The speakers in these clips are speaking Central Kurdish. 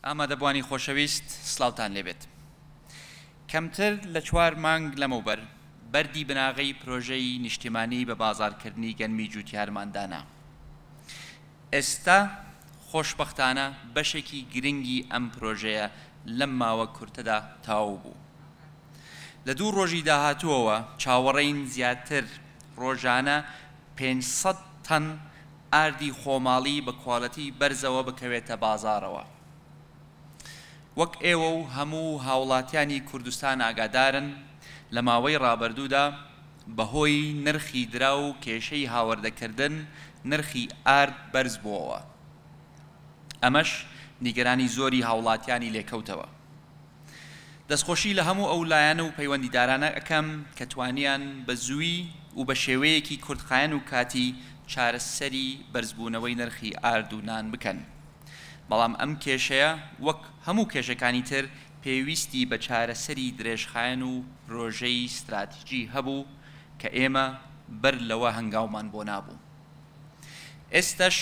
ئامادەبووانی خۆشەویست سڵاوتان لێبێت. کەمتر لە چوار مانگ لەمەوبەر بەردی بناغەی پرۆژەی نیشتیمانی بە بازاڕکردنی گەنمی جووتیارمان دانا. ئێستا خۆشبەختانە بەشێکی گرنگی ئەم پرۆژەیە لەم ماوە کورتەدا تەواو بوو. لە دوو ڕۆژی داهاتووەوە چاوەڕێین زیاتر ڕۆژانە پێنج سەد تەن ئاردی خۆماڵی بە کوالێتی بەرزەوە بکەوێتە بازاڕەوە. وەک ئێوە و هەموو هاوڵاتیانی کوردستان ئاگادارن لە ماوەی ڕابردوودا بەهۆی نرخی دراو و کێشەی هاوردەکردن نرخی ئارد بەرزبووەوە ئەمەش نیگەرانی زۆری هاوڵاتیانی لێکەوتەوە. دەستخۆشی لە هەموو ئەو لایەن و پەیوەندیدارانە ئەکەم کە توانیان بە زووی و بە شێوەیەکی کورتخایەن و کاتی چارەسەری بەرزبوونەوەی نرخی ئارد و نان بکەن بەڵام ئەم کێشەیە وەک هەموو کێشەکانی تر پێویستی بە چارەسەری درێژخایەن و پرۆژەی ستراتیجی هەبوو کە ئێمە بەر لەوە هەنگاومان بۆ نابوو ئێستەش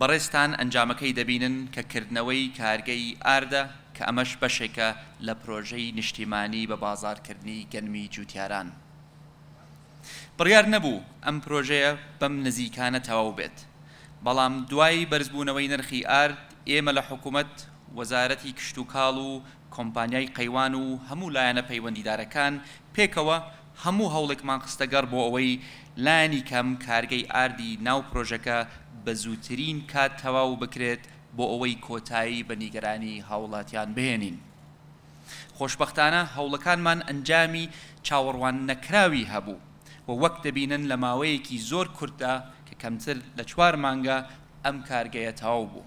بەڕێزتان ئەنجامەکەی دەبینن کە کردنەوەی کارگەی ئاردە کە ئەمەش بەشێکە لە پرۆژەی نیشتیمانی بە بازاڕکردنی گەنمی جوتیاران بڕیار نەبوو ئەم پرۆژەیە بەم نزیکانە تەواو بێت بەڵام دوای بەرزبوونەوەی نرخی ئارد ئێمە لە حکومەت وەزارەتی کشتوکاڵ و کۆمپانیای قەیوان و هەموو لایەنە پەیوەندیدارەکان پێکەوە هەموو هەوڵێکمان خستەگەڕ بۆ ئەوەی لانی کەم کارگەی ئاردی ناو پرۆژەکە بە زووترین کات تەواو بکرێت بۆ ئەوەی کۆتایی بە نیگەرانی هاوڵاتیان بهێنین. خۆشبەختانە هەوڵەکانمان ئەنجامی چاوەڕوان نەکراوی هەبوو و وەک دەبینن لە ماوەیەکی زۆر کورتدا کە کەمتر لە چوار مانگە ئەم کارگەیە تەواو بوو.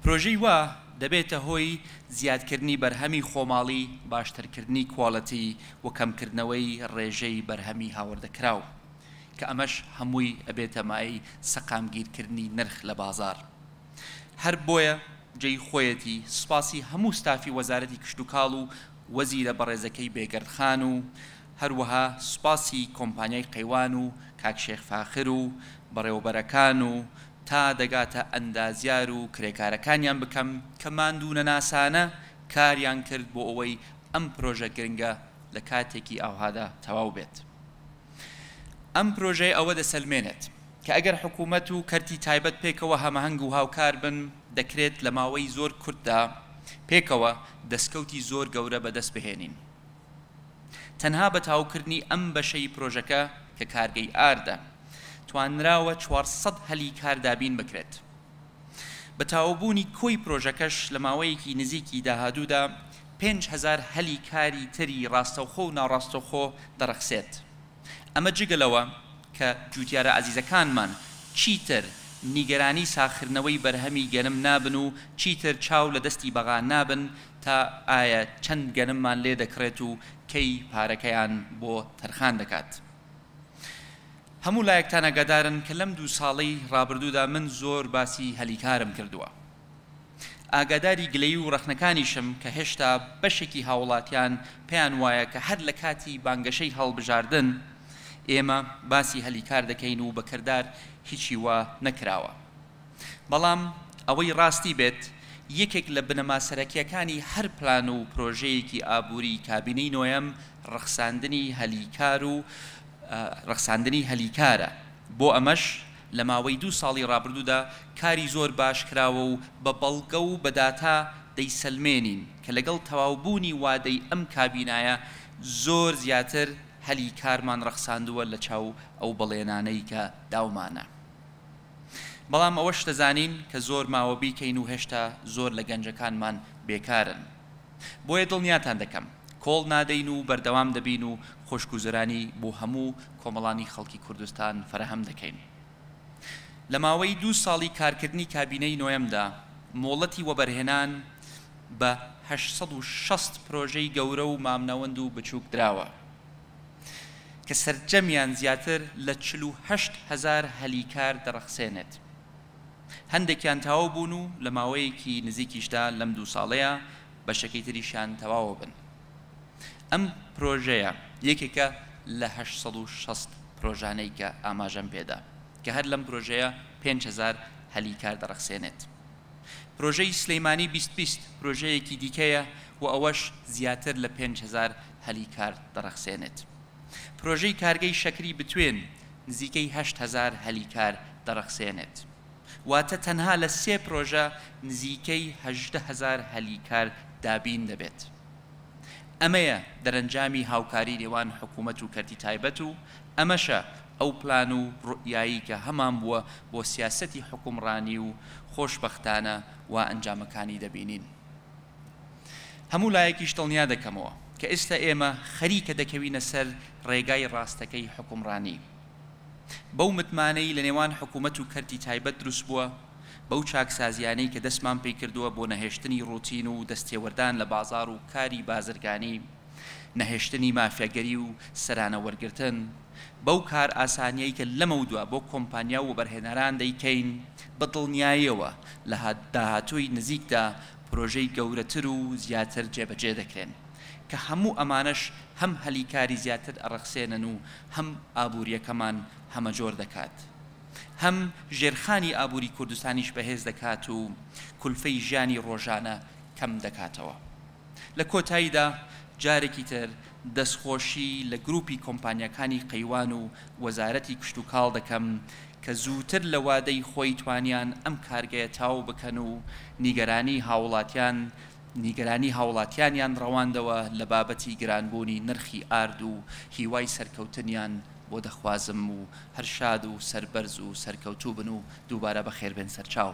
پرۆژەی وا دەبێتە هۆی زیادکردنی بەرهەمی خۆماڵی، باشترکردنی کوالێتی و کەمکردنەوەی ڕێژەی بەرهەمی هاوردەکراو، کە ئەمەش هەمووی ئەبێتە مایەی سەقامگیرکردنی نرخ لە بازاڕ. هەر بۆیە جێی خۆیەتی سوپاسی هەموو ستافی وەزارەتی کشتوکاڵ و وەزیرە بەڕێزەکەی بێگەرد خان و هەروەها سوپاسی کۆمپانیای قەیوان و کاک شێخ فاخر و بەڕێوەبەرەکان و تا دەگاتە ئەندازیار و کرێکارەکانیان بکەم کە ماندوونەناسانە کاریان کرد بۆ ئەوەی ئەم پرۆژە گرنگە لە کاتێکی ئاوهادا تەواو بێت. ئەم پرۆژەیە ئەوە دەسەلمێنێت کە ئەگەر حکوومەت و کەرتی تایبەت پێکەوە هەمەهەنگ و هاوکار بن دەکرێت لە ماوەی زۆر کورتدا پێکەوە دەسکەوتی زۆر گەورە بەدەست بهێنین. تەنها بە تاوکردنی ئەم بەشەی پرۆژەکە کە کارگەی ئاردە، توانراوە چوار سەد هەلی کار دابین بکرێت. بە تاوبوونی کۆی پرۆژەکەش لە ماوەیەکی نزیکی داهادوودا پێنج هەزار هەلی کاری تری راستەوخۆ و ناڕاستەوخۆ دەڕەخسێت. ئەمە جگە لەوە کە جووتیارە ئازیزەکانمان چیتر نیگەرانی ساخردنەوەی بەرهەمی گەنم نابن و چیتر چاو لە دەستی بەغا نابن تا ئایا چەند گەنممان لێ دەکڕێت و کەی پارەکەیان بۆ تەرخان دەکات. هەموو لایەکتان ئاگادارن کە لەم دوو ساڵەی ڕابردوودا من زۆر باسی هەلی کارم کردووە. ئاگاداری گلەیی و ڕەخنەکانیشم کە هێشتا بەشێکی هاوڵاتیان پێیان وایە کە هەر لە کاتی بانگەشەی هەڵبژاردن ئێمە باسی هەلی کار دەکەین و بە کردار هیچی وا نەکراوە. بەڵام ئەوەی ڕاستی بێت، یەکێک لە بنەما سەرەکییەکانی هەر پلان و پرۆژەیەکی ئابووریی کابینەی نۆیەم ڕەخساندنی هەلی کار و ڕەخساندنی هەلی کارە، بۆ ئەمەش لە ماوەی دوو ساڵی ڕابردوودا کاری زۆر باش کراوە و بە بەڵگە و بە داتا دەیسەلمێنین کە لەگەڵ تەواوبوونی وادەی ئەم کابینایە زۆر زیاتر هەلی کارمان ڕەخساندووە لەچاو ئەو بەڵێنانەی کە داومانە. بەڵام ئەوەش دەزانین کە زۆر ماوە بیکەین و هێشتا زۆر لە گەنجەکانمان بێکارن. بۆیە دڵنیاتان دەکەم کۆڵ نادەین و بەردەوام دەبین و خۆشگوزەرانی بۆ هەموو کۆمەڵانی خەڵکی کوردستان فەراهەم دەکەین. لە ماوەی دوو ساڵی کارکردنی کابینەی نۆیەمدا مۆڵەتی وەبەرهێنان بە هەشت سەد و شەست پرۆژەی گەورە و مامناوەند و بچووک دراوە. کە سەرجەمیان زیاتر لە چل و هەشت هەزار هەلی کار دەڕەخسێنێت. هەندێکیان تەواو بوون و لە ماوەیەکی نزیکیشدا لەم دوو ساڵەیا بەشەکەی تریشیان تەواوەبن. ئەم پرۆژەیە یەکێکە لە هەشت سەد و شەست پرۆژانەی کە ئاماژەم پێدا کە هەر لەم پرۆژەیە پێنج هەزار هەلی کار دەڕەخسێنێت. پرۆژەی سلیمانی بیست بیست پرۆژەیەکی دیکەیە و ئەوەش زیاتر لە پێنج هەزار هەلی کار دەڕەخسێنێت. پرۆژەی کارگەی شەکری بتوێن نزیکەی هەشت هەزار هەلی کار دەڕەخسێنێت، واتە تەنها لە سێ پرۆژە نزیکەی هەژدە هەزار هەلی کار دابین دەبێت. ئەمەیە دەرەنجامی هاوکاری نێوان حکومەت و کەرتی تایبەت و ئەمەشە ئەو پلان و روئیایەی کە هەمان بووە بۆ سیاسەتی حکومڕانی و خۆشبەختانە وا ئەنجامەکانی دەبینین. هەموو لایەکیش دڵنیا دەکەمەوە کە ئێستا ئێمە خەریکە دەکەوینە سەر ڕێگای ڕاستەکەی حوکمڕانی بەو متمانەی لە نێوان حکوومەت و کەرتی تایبەت دروست بووە، بەو چاکسازییانەی کە دەستمان پێی کردووە بۆ نەهێشتنی ڕووتین و دەستێوەردان لە بازاڕ و کاری بازرگانی، نەهێشتنی مافیاگەری و سەرانە وەرگرتن، بەو کارئاسانییەی کە لەمەودوا بۆ کۆمپانیا و وەبەرهێنەران دەیکەین، بە دڵنیاییەوە لە داهاتووی نزیکدا پرۆژەی گەورەتر و زیاتر جێبەجێ دەکرێن، کە هەموو ئەمانەش هەم هەلی کاری زیاتر ئەڕەخسێنن و هەم ئابوورییەکەمان هەمەجۆر دەکات، هەم ژێرخانی ئابووری کوردستانیش بەهێز دەکات و کولفەی ژیانی ڕۆژانە کەم دەکاتەوە. لە کۆتاییدا جارێکی تر دەستخۆشی لە گروپی کۆمپانیاکانی قەیوان و وەزارەتی کشتوکاڵ دەکەم کە زووتر لە وادەی خۆی توانیان ئەم کارگەیە تاو بکەن و نیگەرانی هاوڵاتیان نیگەرانی هاوڵاتیانیان ڕەواندەوە لە بابەتی گرانبوونی نرخی ئارد و هیوای سەرکەوتنیان بۆ دەخوازم و هەر شاد و سەربەرز و سەرکەوتووبن و دووبارە بەخێربێن سەرچاو.